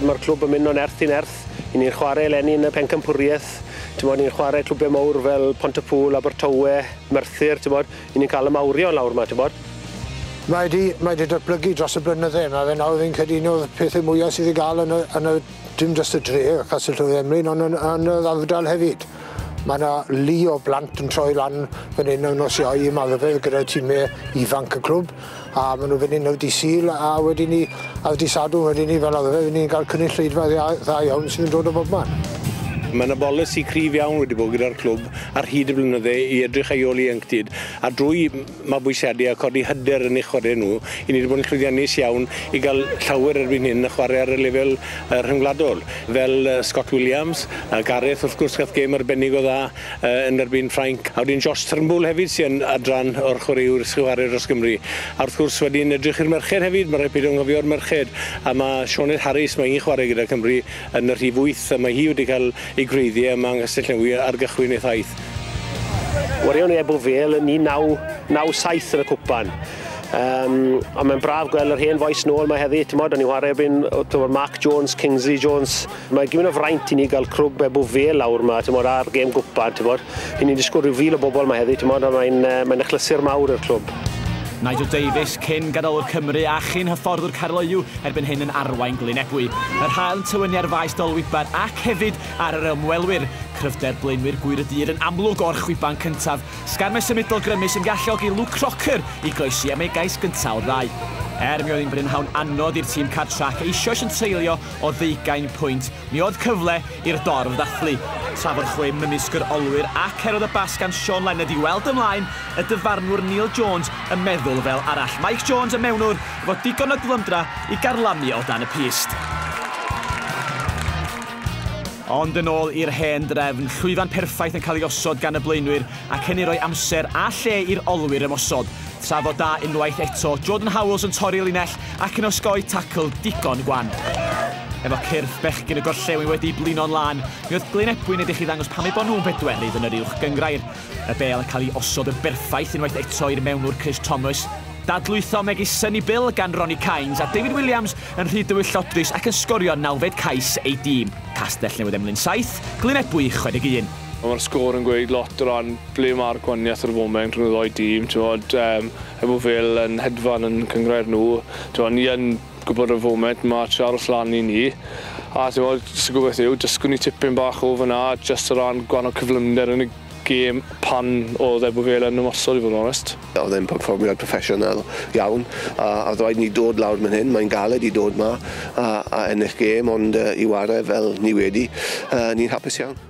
Mae'r clwb yn mynd o'n erth i nerth. I ni'n chwarae eleni yn y pencampwriaeth. Bod, ni'n chwarae clwbiau mawr fel Pont y Pŵl, Abertawe, Merthyr. Bod, i ni'n cael y mawrion lawr yma. Bod. Mae wedi, mae wedi datblygu dros y blynydde yma. Fe nawr fi'n credu un o'r pethau mwyaf sydd i gael yn y, yn y, dim jyst y dre, Castell Tywydd Emlyn, ond yn, yn yr ardal hefyd. Mae yna lu o blant yn troi lan fan hyn ar nos Iau yma rhyfedd gyda time ifanc y clwb a maen nhw fan hyn ar dydd Sul a wedyn ni ar dydd Sadwrn wedyn ni fel arfer ni'n cael cynulleidfa dda, dda iawn sy'n dod o bob man. Mae yna bolisi cryf iawn wedi bod gyda'r clwb ar hyd y blynydde i edrych ar ei ôl ieuenctid a drwy mabwysiadu a codi hyder yn eu chwarae nhw, i ni wedi bod yn llwyddiannus iawn i gael llawer erbyn hyn yn chwarae ar y lefel yy rhyngwladol, fel yy Scott Williams, yy Gareth wrth gwrs gath gêm arbennig o dda yy yn erbyn Ffrainc, a wedyn Josh Turnbull hefyd sy yn adran o'r chwaraewr sy'n chwarae dros Gymru, a wrth gwrs wedyn edrych i'r merched hefyd, ma' rhaid peidio anghofio'r merched, a ma' Sioned Harris, ma' hi'n chwarae gyda Cymru, Yn y rhif wyth, y mae hi wedi cael ei gwreiddio yma yng Nghastell-newy ar gychwyn ei thaith. Warion i Ebw Vale yn 1997 yn y cwpan. Um, ond mae'n braf gweld yr hen fois nôl mae heddi, ti'n modd, o'n i'n chwarae erbyn tymor Mark Jones, Kingsley Jones. Mae gymryd o fraint i ni gael crwb Ebw Vale lawr yma, ti'n modd, ar gêm gwpan, ti'n modd. Y'n ni'n disgwyl rhyw fil o bobl 'ma heddi, timod, a mae'n yy mae'n achlysur mawr i'r clwb. Nigel Davies, cyn gadolwr Cymru a chyn hyfforddwr Caerloyw, erbyn hyn yn arwain Glyn Ebwy. Yr haul yn tywynnu ar faes Dolwybad ac hefyd ar yr ymwelwyr. Cryfder blaenwyr Gŵyr y Dydd yn amlwg o'r chwiban cyntaf. Sgarmes symudol grymus yn galluogi Luke Crocker i groesi am ei gais gyntaf o'r ddau. Er mi oedd hi'n brynhawn anodd i'r tîm cartref ac eisoes yn treulio o ddeugain pwynt, mi oedd cyfle i'r dorf ddathlu, tra bod chwe mynysk yr olwyr ac Heroda Bas gan Siôn Lenned i weld ymlaen, y dyfarnwr Neil Jones yn meddwl fel arall, Mike Jones, y mewnwr, efo digon o glymdra i garlamu o dan y pyst. Ond yn ôl i'r hen drefn, llwyfan perffaith yn cael ei osod gan y blaenwyr, ac hynny roi amser a lle i'r olwyr ymosod, tra fod da unwaith eto Jordan Howells yn torri linell ac yn osgoi tacl digon gwan. Efo cyrff bechgyn y gorllewin wedi blino'n lân, mi oedd Glyn Ebwyn edrych i ddangos pam eu bod nhw'n bedwerydd yn yr Uwch Gynghrair. Y bêl yn cael ei osod yn berffaith unwaith eto i'r mewnwr Chris Thomas. Dadlwytho megis Sonny Bill gan Ronnie Cains a David Williams yn rhy dywyllodus ac yn sgorio nawfed cais ei dîm. Castell Newydd Emlyn 7, Glyn Ebwy 61. Mae'r sgôr yn gweud lot o ran ble mae'r gwahaniaeth ar y foment rhwng y ddou dîm, t'mod, yym, er bo' Vale yn hedfan yn cynghrair nhw, t'mod, ni yn gwbod ar y foment ma' trio aros lan i ni, a t'mod, jyst y gobaith yw dysgwn ni tipyn bach o fan'na jyst o ran gwahanol cyflymder yn y gêm pan o'dd Ebw Vale yn ymosod i fod yn onest. O'dd e'n perfformio'n proffesiynol iawn, a o'dd raid ni dod lawr myn hyn, mae'n galed i dod 'ma a a ennill gêm ond yy i ware fel ni wedi yy ni'n hapus iawn.